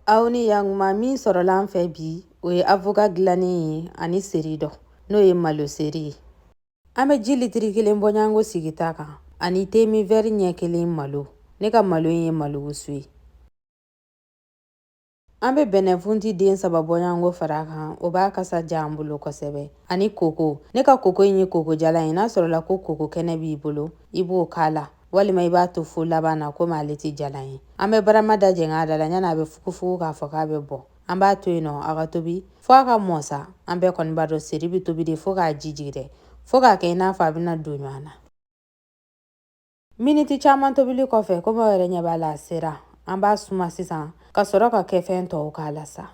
aw ni yantuma min sɔrɔla an fɛ bi o ye avoka dilannen ye ani seri dɔ n'o ye malo seri ye an bɛ ji litiri kelen bɔɲanko sigi ta kan ani temi vɛri ɲɛ kelen malo ne ka malo ye malo wusu ye an bɛ bɛnɛfunti den saba bɔɲanko fara kan o b'a kasa diya an bolo kosɛbɛ ani koko ne ka koko in ye koko jalan ye n'a sɔrɔla ko koko kɛnɛ b'i bolo i b'o k'a la walima i b'a to fo laban na komi ale tɛ jalan ye an bɛ barama da jɛngɛ a da la yanni a bɛ fugufugu k'a fɔ k'a bɛ bɔn an b'a to yen nɔ a ka tobi fo a ka mɔ sa an bɛɛ kɔni b'a dɔn seri bɛ tobi de fo k'a ji jigi dɛ fo k'a kɛ i n'a fɔ a bɛna don ɲɔgɔn na miniti caman tobili kɔfɛ komi aw yɛrɛ ɲɛ b'a la a sera an b'a suma sisan ka sɔrɔ ka kɛfɛn tɔw k'a la sa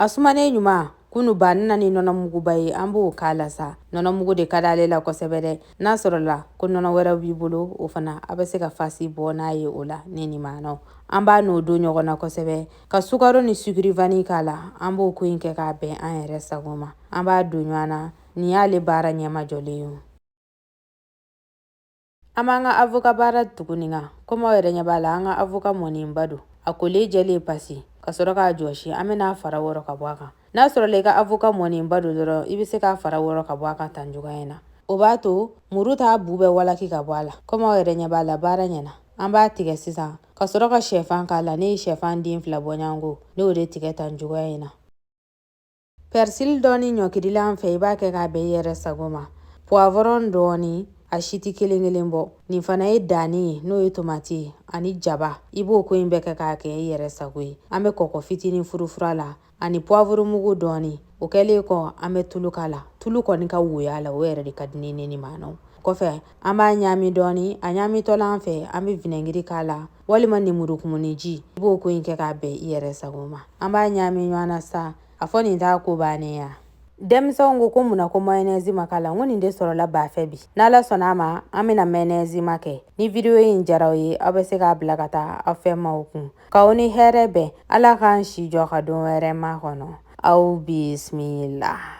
A sumanen ɲuman kɔ an bɛ na ni nɔnɔmuguba ye an b'o k'a la sa nɔnɔmugu de ka di ale la kosɛbɛ dɛ n'a sɔrɔla ko nɔnɔ wɛrɛ b'i bolo o fana a bɛ se ka fasi bɔ n'a ye o la ne ni maa nɔ an b'a n'o don ɲɔgɔn na kosɛbɛ ka sukaro ni sukuri vani k'a la an b'o ko in kɛ k'a bɛn an yɛrɛ sago ma an b'a don ɲɔgɔn na nin y'ale baara ɲɛmajɔlen ye An b'an ka avoka baara tugu nin kan komi aw yɛrɛ ɲɛ b'a la an ka avoka mɔnenba don a kolen jɛlen pasi ka sɔrɔ k'a jɔsi an bɛn'a fara wɔrɔ ka bɔ a kan n'a sɔrɔla i ka avoka mɔnenba don dɔrɔn i bɛ se k'a fara wɔrɔ ka bɔ a kan tan cogoya in na o b'a to muru t'a bu bɛɛ walaki ka bɔ a la komi aw yɛrɛ ɲɛ b'a la baara ɲɛna an b'a tigɛ sisan ka sɔrɔ ka shɛfan k'a la ne ye shɛfan den fila bɔɲanko ne y'o de tigɛ tan cogoya in na pɛrisili dɔɔni ɲɔkirila an fɛ i b'a kɛ k'a bɛn i yɛrɛ sago ma puwavɔrɔn dɔɔni a si tɛ kelen kelen bɔ nin fana ye danni ye n'o ye tomati ye ani jaba i b'o ko in bɛɛ kɛ k'a kɛ i yɛrɛ sago ye an bɛ kɔkɔ fitinin furufur'a la ani puwavoromugu dɔɔni o kɛlen kɔ an bɛ tulu k'a la tulu kɔni ka woy'a la o yɛrɛ de ka di ne ni maa nɔ kɔfɛ an b'a ɲaami dɔɔni a ɲaamitɔla an fɛ an bɛ vinɛgiri k'a la walima nemurukumuniji i b'o ko in kɛ k'a bɛn i yɛrɛ sago ma an b'a ɲaami ɲɔgɔn na sa a fɔ nin t'a ko bannen ya denmisɛnw ko ko mun na ko mayonɛzi ma k'a la n ko nin de sɔrɔla ba fɛ bi n'ala sɔnna a ma an bɛna mayonɛzima kɛ ni vidiyo in diyar'aw ye aw bɛ se k'a bila ka taa aw fɛ maaw kun k'aw ni hɛrɛ bɛn ala k'an si jɔ ka don wɛrɛ makɔnɔ aw bisimila